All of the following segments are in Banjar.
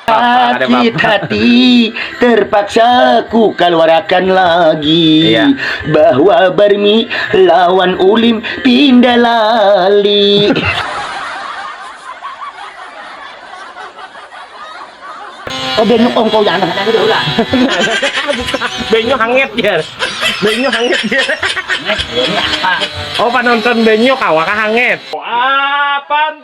Sakit hati terpaksa ku kaluarakan lagi iya. Bahwa Barmi lawan Ulim pindah lali Oh banyu kongko yang anak itu lah. banyu hangat ya. Banyu hangat ya. Oh penonton banyu kawakah hangat. Oh, apa?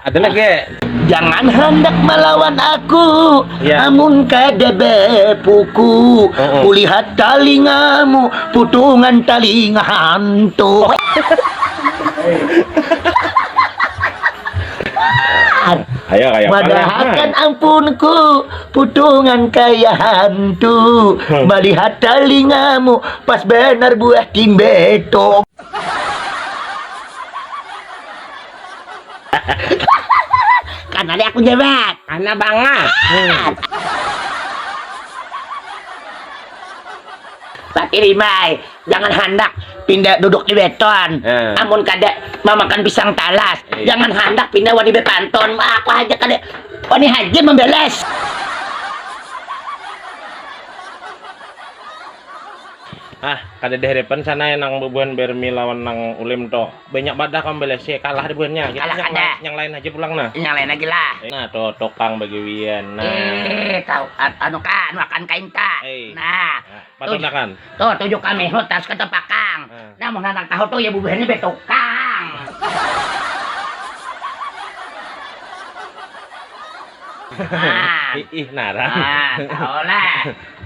ada lagi ya? Jangan hendak melawan aku ya. Amun kada bepuku uh -uh. Kulihat talingamu Putungan talinga hantu Ayo kayak Madahakan ampunku Putungan kaya hantu hmm. Melihat talingamu Pas benar buah timbeto kan tadi aku jebet karena banget hmm. tapi ribai jangan handak pindah duduk di beton hmm. amun kada memakan pisang talas hmm. jangan handak pindah wadi bepanton aku aja kada wani haji membeles ah kada diharapkan sana yang nang bubuhan bermi lawan nang ulim to Banyak badah kawan balese kalah deh buhannya. Kita kalah yang, lain, yang lain aja pulang nah. Yang lain lagi lah. Eh, nah tuh tukang bagiwian. Nah. Eh, tahu anu kan makan kain ka. Eh. Nah. nah Patunakan. Tuh tujuh kami hutas ke tepakang. Nah. nah mau anak tahu tuh ya bubuhannya betukang. nah. Ih, narang. Nah, tahu lah.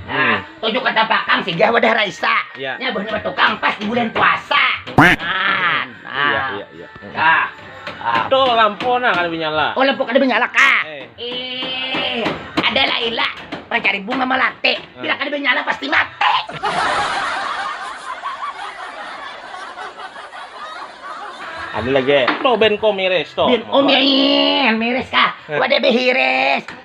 Nah, tujuh kata pakam singgah wadah Raisa. Ya. Nya buhnya batukang pas di bulan puasa. Nah, nah. Iya, iya, iya. Nah. Ah. Tuh lampu nah kada menyala. Oh, lampu kada menyala kah? Eh. eh. Ada Laila mencari bunga melati. Eh. Bila kada menyala pasti mati. Ada lagi. Tuh ben ko miris tuh. Ben oh miris kah? Eh. Wadah behiris.